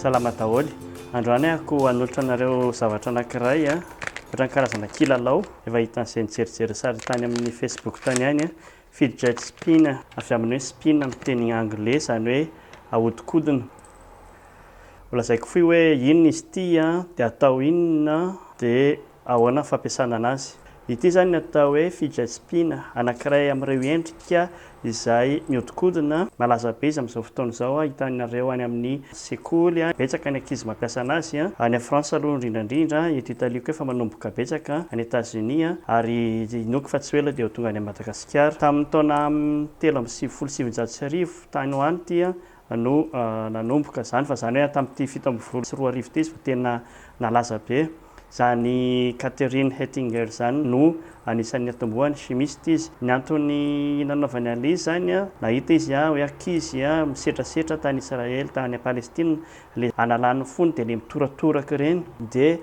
Salama daholo. Androany ako hanolotra anareo zavatra anankiray a. Ohatran'ny karazana kilalao. Efa hitan'izay nijerijery sary tany amin'ny Facebook tany ihany a. Fidget spin, avy amin'ny hoe spin amin'ny teny anglais, izany hoe ahodikodina. Holazaiko fohy hoe inona izy ity a, dia atao inona, dia. Ahoana ny fampiasana anazy? Ity izany no atao hoe fijajpiana, anankiray amin'ireo endrika izay mihodinkodina, malaza be izy amin'izao fotoana izao, hitanareo any amin'ny sekoly, betsaka ny ankizy mampiasa anazy, any France aloha indrindra indrindra, eto Italie koa efa manomboka betsaka, any Etazonia, ary inoako fa tsy ho ela dia ho tonga any Madagasikara. Tamin'ny taona telo amby sivifolo sy sivinjato sy arivo, tany ho any ity, no nanomboka izany fa izany hoe tamin'ity fito ambin'ny folo sy roa arivo ity izy vao tena nalaza be. Izany Katherine Hettinger izany no anisan'ny niatombohany, chimiste izy. Ny antony nanaovany an'ilay izy izany, nahita izy hoe ankizy misetrasetra tany Israely, tany Palestina, ilay analany ny fony dia ilay mitoratoraka ireny, dia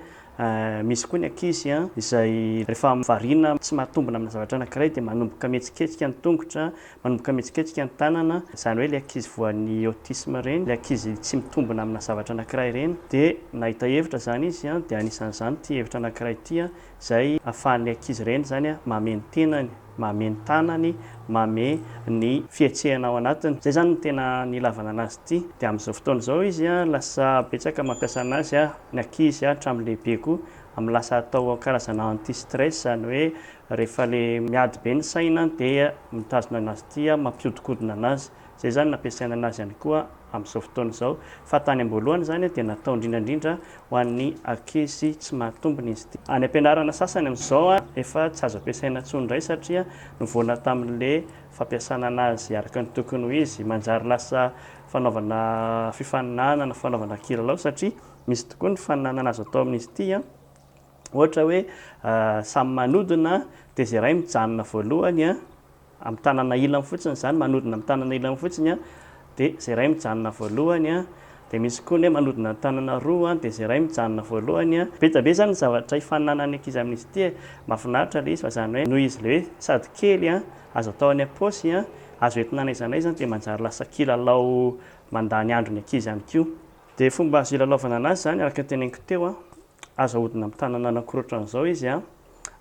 misy koa ny ankizy izay rehefa variana tsy mahatombina amina zavatra anankiray dia manomboka mihetsiketsika ny tongotra, Manomboka mihetsiketsika ny tanana, izany hoe ilay ankizy voan'ny autisme ireny, ilay ankizy tsy mitombina amina zavatra anankiray ireny, dia nahita hevitra izany izy, dia anisan'izany ity hevitra anankiray ity izay ahafahan'ny ankizy ireny izany mamehy ny tenany, mamehy ny tanany, mamehy ny fihetsehana ao anatiny. Izay izany no tena nilavana anazy ity. Dia amin'izao fotoana izao izy lasa betsaka mampiasa anazy ny ankizy hatramin'ny lehibe koa amin'ny lasa atao karazana anti-stress izany hoe Rehefa le miady be ny saina dia mitazona anazy ity aho, mampihodinkodina anazy. Izay izany no ampiasaina anazy ihany koa amin'izao fotoana izao. Fa tany am-boalohany izany dia natao indrindra indrindra ho an'ny ankizy tsy mahatombina izy ity. Any am-pianarana sasany amin'izao efa tsy azo ampiasaina intsony indray satria novoana tamin'le fampiasana anazy araka ny tokony ho izy. Manjary lasa fanaovana fifaninanana, fanaovana kilalao satria misy tokoa ny fifaninanana azo atao amin'izy ity. Ohatra hoe samy manodina dia izay iray mijanona voalohany amin'ny tanana ilany fotsiny izany, manodina amin'ny tanana ilany fotsiny dia izay iray mijanona voalohany, dia misy koa ny hoe manodina ny tanana roa dia izay iray mijanona voalohany. Be dia be izany ny zavatra hifaninanan'ny ankizy amin'izy ity e! Mahafinaritra ilay izy fa izany hoe noho izy ilay hoe sady kely a, azo atao any am-paosy, azo entina n'aiza n'aiza dia manjary lasa kilalao mandany andro ny ankizy ihany koa. Dia fomba azo ilalaovana an'azy izany araka ny teneniko teo, Azo ahodina amin'ny tanana anankiroa ohatran'izao izy an!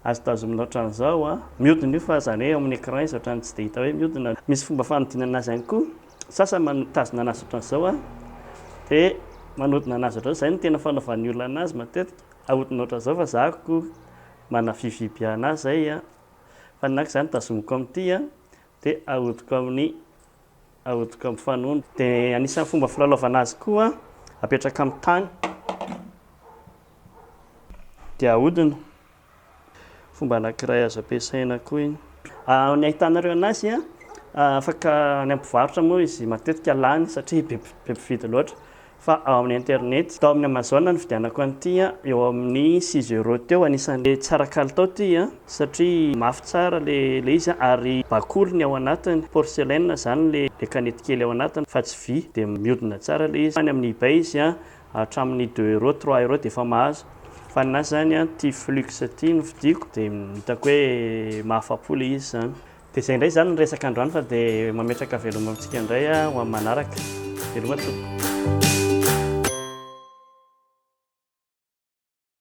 Azo tazomina ohatran'izao an! Mihodina io fa zany hoe eo amin'ny écran izy ohatran'ny tsy dia hita hoe mihodina. Misy fomba fanodinana azy ihany koa. Sasany manotazona anazy ohatran'izao an! Dia manodina anazy ohatran'izao. Izay no tena fanaovan'ny olona anazy matetika. Ahodina ohatran'izao fa za akory manavivy anazy izay an! Fa ny anak'izany tazomiko amin'ity an! Dia ahodiko amin'ny ahodiko amin'ny fanondro. Dia anisan'ny fomba filalaovana azy koa, apetraka amin'ny tany dia ahodina. Fomba anankiray azo ampiasaina koa iny. Ny ahitanareo anazy a, afaka any amin'ny mpivarotra moa izy matetika lany satria be mpividy loatra. fa ao amin'ny internet. Tao amin'ny Amazon no nividianako an'ity a, eo amin'ny six euros teo, anisan'ilay tsara kalitao ity a, satria mafy tsara ilay izy a, ary bakoly ny ao anatiny, porcelaine izany ilay kanety kely ao anatiny fa tsy vy, dia mihodina tsara ilay izy, any amin'ny ebay izy a, hatramin'ny deux euros, trois euros dia efa mahazo, fa ny ahy izany a, ity flux ity no vidiako, dia hitako hoe mahafapo ilay izy izany. Dia izay indray izany ny resaka androany fa dia mametraka veloma amintsika indray ho amin'ny manaraka. Veloma tompoko.